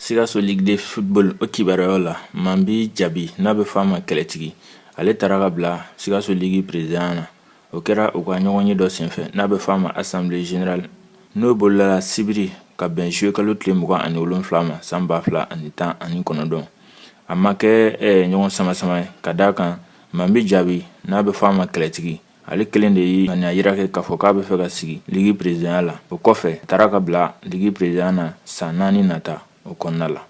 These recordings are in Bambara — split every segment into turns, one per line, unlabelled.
sikaso ligue de football o kibaruyaw la manbi jabi n'a bɛ fɔ a ma kɛlɛtigi ale taara ka bila sikaso ligi perezidanya na o kɛra u ka ɲɔgɔnye dɔ senfɛ n'a bɛ fɔ a ma assemblée générale n'o bolila sibiri ka bɛn juillet kalo tile mugan ani wolonfila ma san ba fila ani tan ani kɔnɔntɔn a ma kɛ eh, ɲɔgɔn samasama ye ka d'a kan manbi jabi n'a bɛ fɔ a ma kɛlɛtigi ale kelen de ye ŋaniya yira kɛ k'a fɔ k'a bɛ fɛ ka sigi ligi perezidanya la o kɔfɛ a taara ka bila ligi perezidanya na san naani nata o kɔnɔna la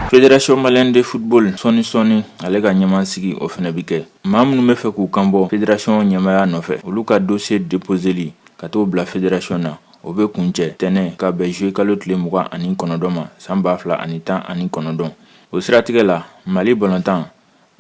Fédération malienne de football sɔni sɔni ale ka ɲɛmaa sigi o fana bɛ kɛ maa minnu bɛ fɛ k'u kanbɔ fédération ɲɛmaaya nɔfɛ olu ka dossier déposeli ka t'o bila fédération na o bɛ kuncɛ tɛnɛn ka bɛn juillet kalo tile mugan ani kɔnɔntɔn ma san ba fila ani tan ani kɔnɔntɔn o siratigɛ la mali balontan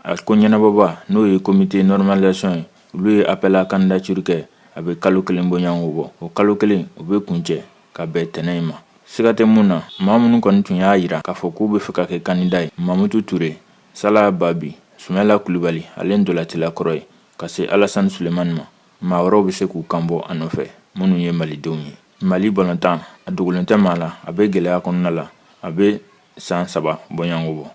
a ko ɲɛnabɔbaa n'o ye comité normalisation ye olu ye appel à candidature kɛ a bɛ kalo kelen bɔɲɔgɔnko bɔ o kalo kelen o bɛ kuncɛ ka bɛn tɛnɛn in ma siga tɛ min na maa minnu kɔni tun y'a yira k'a fɔ k'u bɛ fɛ ka kɛ candidat ye mamutu ture sala babi sumayila kulubali ale ntolatila kɔrɔ ye ka se alasan sulemani ma maa wɛrɛw bɛ se k'u kan bɔ a nɔfɛ minnu ye malidenw ye mali balontan a dogolen tɛ maa la a bɛ gɛlɛya kɔnɔna la a bɛ san saba bɔɲɔgɔnko bɔ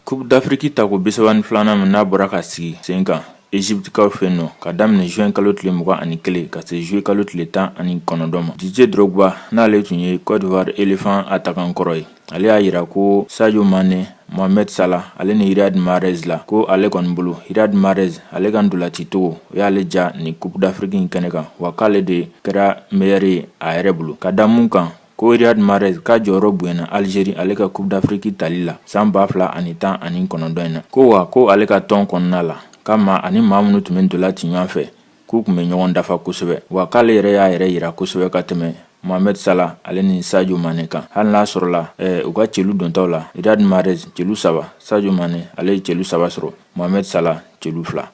coupe d'afiriki tako bisaba ni filanan min n'a bɔra ka sigi sen kan Egyptikaw fɛ yen nɔ ka daminɛ juin kalo tile mugan ani kelen ka se juillet kalo tile tan ani kɔnɔntɔn ma Didier Drogba n'ale tun ye Cote d'Ivoire Elephant attaquant kɔrɔ ye ale y'a yira ko sajo manɛ mohamɛd sala ale ni iriyad marɛs la ko ale kɔni bolo iriyad marɛs ale ka ntolacicogo o y'ale ja ni coupe d'afrique in kɛnɛ kan wa k'ale de kɛra meilleur ye a yɛrɛ bolo ka da mun kan ko iriyad marɛs ka jɔyɔrɔ bonyana algérie ale ka coupe d'afrique tali la san ba fila ani tan ani kɔnɔntɔn in na ko wa ko ale ka tɔn kɔnɔna la k'a ma ani maa minnu tun bɛ ntola ci ɲɔgɔn fɛ k'u tun bɛ ɲɔgɔn dafa kosɛbɛ wa k'ale yɛrɛ y'a yɛrɛ yira kosɛbɛ ka tɛmɛ mohamed sala ale ni sadio mane kan hali n'a sɔrɔla eh, u ka celu dontaw la riyad mahrez celu saba sadio mane ale ye celu saba sɔrɔ mohamed sala celu fila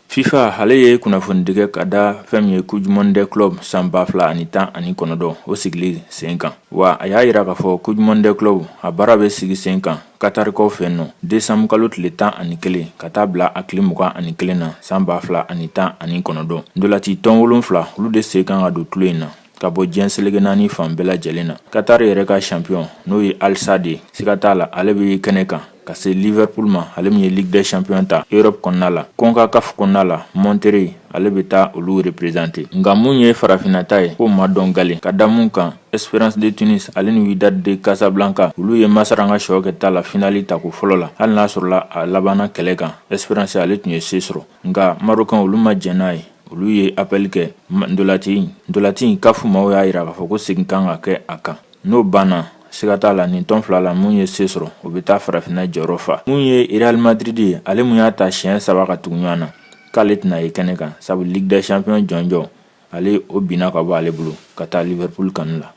Fifa ale ye kunnafonidi kɛ ka da fɛn min ye coupe du monde des clubs san ba fila ani tan ani kɔnɔntɔn o sigili sen kan wa a y'a yira k'a fɔ coupe du monde des clubs a baara bɛ sigi sen kan katarikaw fɛ nɔ décembre kalo tile tan ani kelen ka taa bila a tile mugan ani kelen na san ba fila ani tan ani kɔnɔntɔn ntolati tɔn wolonfila olu de sen kan ka don tulon in na ka bɔ diɲɛ selege naani fan bɛɛ lajɛlen na qatar yɛrɛ ka champion n'o ye al sadd ye siga t'a la ale bɛ kɛnɛ kan ka se liverpool ma ale min ye ligue des champions ta europe kɔnɔna la concacaf kɔnɔna la monterrey ale bɛ taa olu représenter nka mun ye farafinna ta ye k'o ma dɔn gale ka da mun kan espérance de tunis ale ni wydad de casablanca olu ye masaranga sɔɔ kɛ ta la finali tako fɔlɔ la hali n'a sɔrɔla a labanna kɛlɛ kan espérance ale tun ye se sɔrɔ nka marocain olu ma jɛn n'a ye olu ye appel kɛ ndolati ndolati kafu maaw y'a yira k'a fɔ ko segin kan ka kɛ a kan n'o banna siga t'a la nin tɔn fila la mun ye se sɔrɔ o bɛ taa farafinna jɔyɔrɔ fa mun ye real madrid ye ale mun y'a ta siɲɛ saba ka tugu ɲɔgɔn na k'ale tɛna ye kɛnɛ kan sabu ligue des champions jɔnjɔn ale o binna ka bɔ ale bolo ka taa liverpool kanu la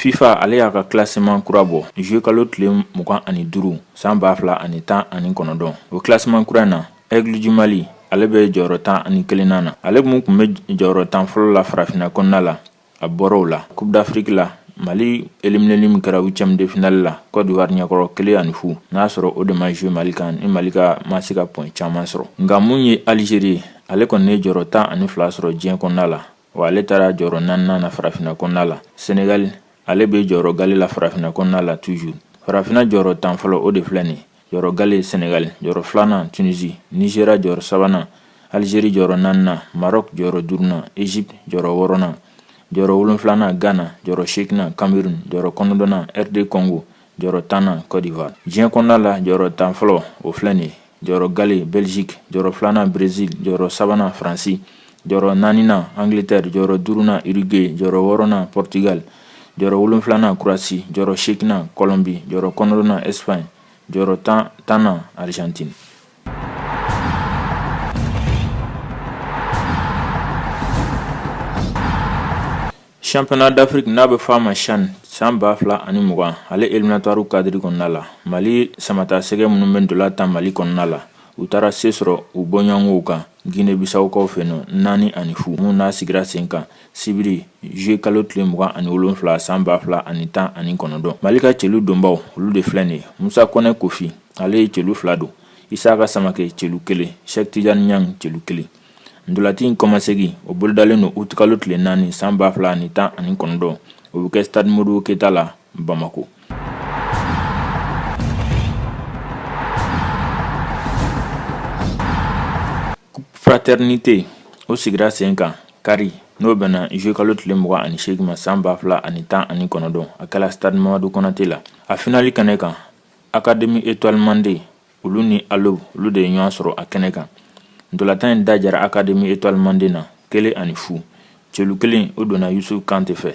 fifa ale y'a ka kilasiman kura bɔ zuye kalo tile mugan ani duuru san ba fila ani tan ani kɔnɔdɔn o kilasiman kura na aigles du mali ale bɛ jɔyɔrɔ tan ani kelennan na ale mun tun bɛ jɔyɔrɔ tan fɔlɔ la farafinna kɔnɔna la a bɔra o la coupe d'afrique la mali elimineli min kɛra huitième de finale la côte d'ivoire ɲɛkɔrɔ kelen ani fu n'a sɔrɔ o de ma jouer mali kan ni mali ka ma se ka point caman sɔrɔ nka mun ye algérie ye ale kɔni ye jɔrɔ tan ani fila sɔrɔ diɲɛ kɔnɔna la wa ale taara jɔrɔ naaninan na farafinna kɔnɔna la sénégal ale bɛ jɔrɔ gale la farafinna kɔnɔna la toujours farafinna jɔrɔ tan fɔlɔ o de filɛ nin jɔyɔrɔ gale sénégal jɔyɔrɔ filanan tunisie nigéria jɔyɔrɔ sabanan algérie jɔyɔrɔ naaninan maroc jɔyɔrɔ duurunan égypte jɔyɔrɔ wɔɔrɔnan jɔyɔrɔ wolonfilanan ghana jɔyɔrɔ seginnan cameroun jɔyɔrɔ kɔnɔndɔnan rd congo jɔyɔrɔ tannan côte d'ivoire diɲɛ kɔnɔna la jɔyɔrɔ tan fɔlɔ o filɛ nin jɔyɔrɔ gale belgique jɔyɔrɔ filanan brésil jɔyɔrɔ sabanan faransi jɔyɔrɔ naaninan angleterre jɔyɔrɔ duurunan uruguay jɔyɔrɔ wɔɔrɔnan portugal jɔyɔrɔ wolonfilanan croatie jɔyɔrɔ seginnan colombie jɔyɔrɔ kɔnɔndɔnan espagne jɔyɔrɔ tannan argentine championnat d'afrique n'a bɛ fɔ a ma chan san ba fila ani mugan ale éliminatoire cadre kɔnɔna la mali samatasɛgɛ minnu bɛ ndola tan mali kɔnɔna la u taara se sɔrɔ u bɔɲɔgɔnw kan guinée bissau kaw fɛ nɔ naani ani fu mun n'a sigira sen kan sibiri zuye kalo tile mugan ani wolonfila san ba fila ani tan ani kɔnɔntɔn mali ka celu donbaw olu de filɛ nin ye musa kɔnɛ kofi ale ye celu fila don isaka samakɛ celu kelen cheikh tidiane niang celu kelen ndolati in kɔmasegin o bolodalen don uti kalo tile naani san ba fila ani tan ani kɔnɔntɔn o bɛ kɛ stade modibo keyita la bamakɔ Fratɛrnite o sigira sen kan kari n'o bɛnna zuye kalo tile mugan ani seegin ma san ba fila ani tan ani kɔnɔntɔn a kɛra stade mamadu konate la a finali kɛnɛ kan akademi etuwali mande olu ni alo olu de ye ɲɔgɔn sɔrɔ a kɛnɛ kan ntolatan in da jara akademi etuwali mande na kelen ani fu celu kelen o donna yusuf kante fɛ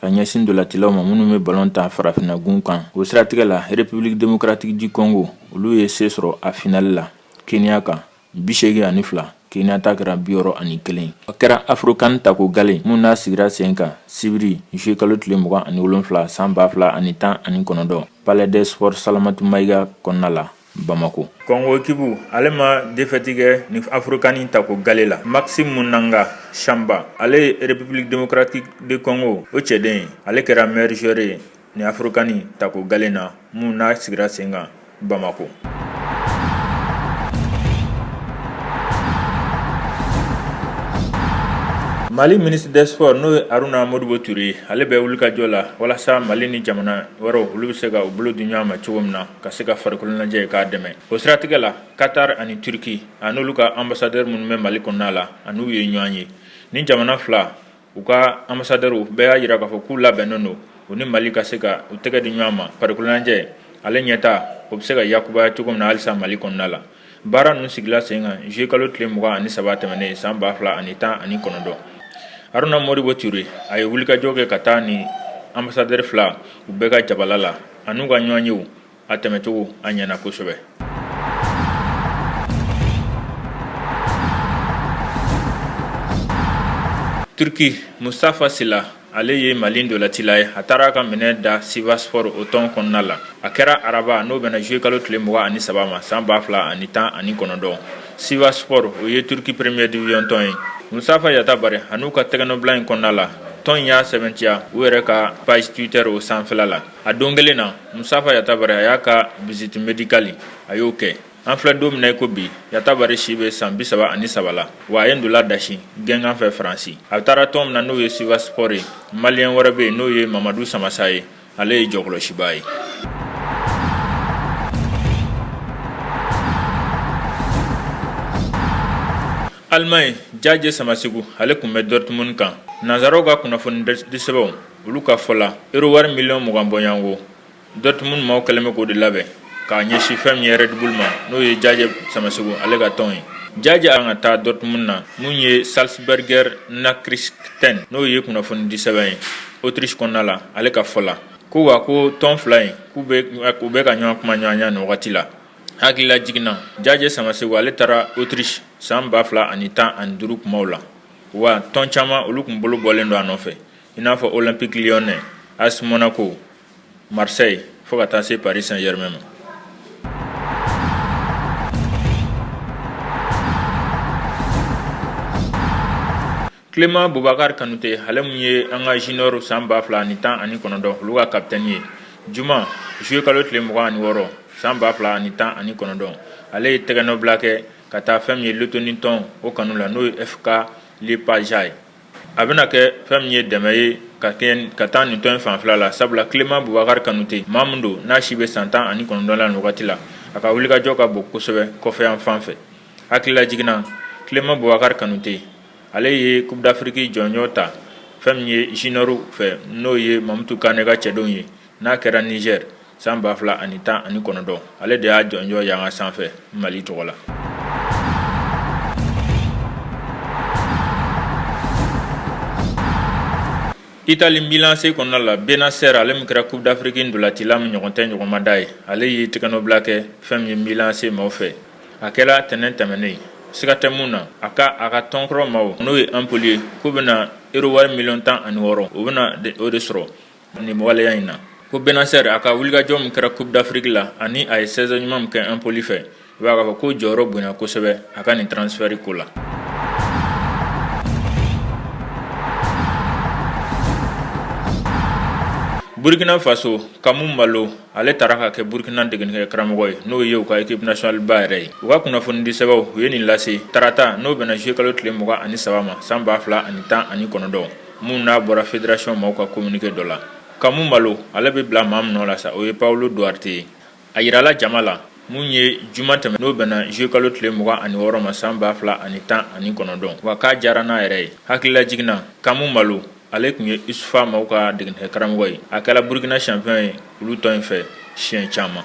ka ɲɛsin ndolatilaw ma minnu bɛ balon ta farafinagun kan o siratigɛ la republiki demokratiki di kɔngo olu ye se sɔrɔ a finali la kenya kan bisegin ani fila kenya ta kɛra biwɔɔrɔ ani kelen a kɛra afrokan tako gale min n'a sigira sen kan sibiri zuye kalo tile mugan ani wolonwula san ba fila ani tan ani kɔnɔntɔn palais des sports salamatu mayiga kɔnɔna la Bamako kɔngo ekibu ale ma defɛti kɛ ni afrokan tako gale la maxime munanga shamba ale ye republiki demokratiki di kɔngo o cɛden ye ale kɛra meilleur joueur ye ni afrokan tako gale na min n'a sigira sen kan bamakɔ mali ministre des sports n'o ye aruna modibo ture ye ale bɛ wulikajɔ la walasa mali ni jamana wɛrɛw olu bɛ se ka u bolo di ɲɔgɔn ma cogo min na ka se ka farikolonajɛ k'a dɛmɛ o siratigɛ la katar ani turki an'olu ka anbasadɛri minnu bɛ mali kɔnɔna la an'u ye ɲɔgɔn ye ni jamana fila u ka anbasadɛriw bɛɛ y'a jira k'a fɔ k'u labɛnnen don u ni mali ka se ka u tɛgɛ di ɲɔgɔn ma farikolonajɛ ale ɲɛtaa o bɛ se ka yakubaya cogo min na halisa mali kɔnɔna la baara ninnu sigila sen kan juye kalo tile mugan ani saba tɛmɛnen san ba fila ani tan ani kɔnɔntɔn haruna modibo ture a ye wulikajɔ kɛ ka taa ni anbasadɛri fila u bɛɛ ka jabala la an'u ka ɲɔgɔnyew a tɛmɛcogo a ɲɛna kosɛbɛ turki mustafa sila ale ye mali ndolatila ye a taara ka minɛ da sivasspor o tɔn kɔnɔna la a kɛra araba n'o bɛnna zuye kalo tile mugan ani saba ma san ba fila ani tan ani kɔnɔntɔn sivasspor o ye turki premier division tɔn ye mustafa yatabare an'u ka tɛgɛnɔbila in kɔnɔna la tɔn in y'a sɛbɛntiya u yɛrɛ ka page twitter o sanfɛla la a don kelen na mustafa yatabare a y'a ka visite medikali a y'o kɛ an filɛ don min na i ko bi yatabare si bɛ san bisaba ani saba la wa a ye ndola dasi gɛngan fɛ faransi a taara tɔn min na n'o ye sivasspor ye maliyɛn wɛrɛ bɛ yen n'o ye mamadu samasa ye ale ye jɔkɔlɔsibaa ye alimaɲi jaje samaseku ale kun bɛ dortmund kan nanzaraw ka kunnafonidisɛbɛnw olu ka fɔ la euro wari miliyɔn mugan bɔɲɔgɔnko dortmund maaw kɛlen bɛ k'o de labɛn k'a ɲɛsin fɛn min ye red bull ma n'o ye jajɛ samasegu ale ka tɔn ye jajɛ kan ka taa dortmund na min ye salzburger nachrichten n'o ye kunnafoni di sɛbɛn ye otirisi kɔnɔna la ale ka fɔ la ko wa ko tɔn fila in k'u bɛ ka ɲɔgɔn kuma ɲɔgɔnya nin wagati la hakilila jiginna jajɛ samasegu ale taara otirisi san ba fila ani tan ani duuru kumaw la wa tɔn caman olu tun bolo bɔlen don a nɔfɛ i n'a fɔ olympique lyonnais as monaco marseille fo ka taa se paris saint-germain ma clément bubakari kanute ale min ye an ka junior san ba fila ani tan ani kɔnɔntɔn olu ka kapitɛni ye juma zuye kalo tile mugan ani wɔɔrɔ san ba fila ani tan ani kɔnɔntɔn ale ye tɛgɛnɔbila kɛ ka taa fɛn min ye lettonie tɔn o kanu la n'o ye fk liepaja ye a bɛna kɛ fɛn min ye dɛmɛ ye ka taa nin tɔn in fanfɛla la sabula clément bubakari kanute maa min don n'a si bɛ san tan ani kɔnɔntɔn la nin wagati la a ka wulikajɔ ka bon kosɛbɛ kɔfɛ yan fan fɛ hakilila jiginna clément bubakari kanute ale ye coupe d'afrique jɔnjɔ ta fɛn min ye juniorw fɛ n'o ye mamutu kane ka cɛdenw ye n'a kɛra nizɛri san ba fila ani tan ani kɔnɔntɔn ale de y'a jɔnjɔ yanga sanfɛ mali tɔgɔ la itali milan ac kɔnɔna la bennacer ale min kɛra coupe d'afrique ndolatila min ɲɔgɔn tɛ ɲɔgɔnmada ye ale ye tɛgɛnɔbila kɛ fɛn min ye milan ac maaw fɛ a kɛra tɛnɛn tɛmɛnen siga tɛ mun na a ka a ka tɔnkɔrɔ maaw n'o ye empoli ye k'u bɛna euro wari miliyɔn tan ani wɔɔrɔ o bɛna o de sɔrɔ Nin waleya in na ko Bennacer a ka wulikajɔ min kɛra Coupe d'Afrique la ani a ye saison ɲuman min kɛ Empoli fɛ i b'a fɔ ko jɔyɔrɔ bonya kosɛbɛ a ka nin transfert ko la burukina faso Kamu Malo ale taara ka kɛ burukina degenikɛ karamɔgɔ ye n'o ye u ka équipe nationale ba yɛrɛ ye u ka kunnafoni di sɛbɛnw u ye nin lase tarata n'o bɛnna zuye kalo tile mugan ani saba ma san ba fila ani tan ani kɔnɔntɔn mun n'a bɔra fédération maaw ka communiqué dɔ la Kamu Malo ale bɛ bila maa min nɔ la sa o ye Paulo Duarte ye a yirala jama la mun ye juma tɛmɛ n'o bɛnna juillet kalo tile mugan ani wɔɔrɔ ma san ba fila ani tan ani kɔnɔntɔn wa k'a diyara n'a yɛrɛ ye hakililajiginna Kamu Malo ale tun ye USFA maaw ka degenikɛ karamɔgɔ ye a kɛra Burkina champion ye olu tɔn in fɛ siɲɛ caman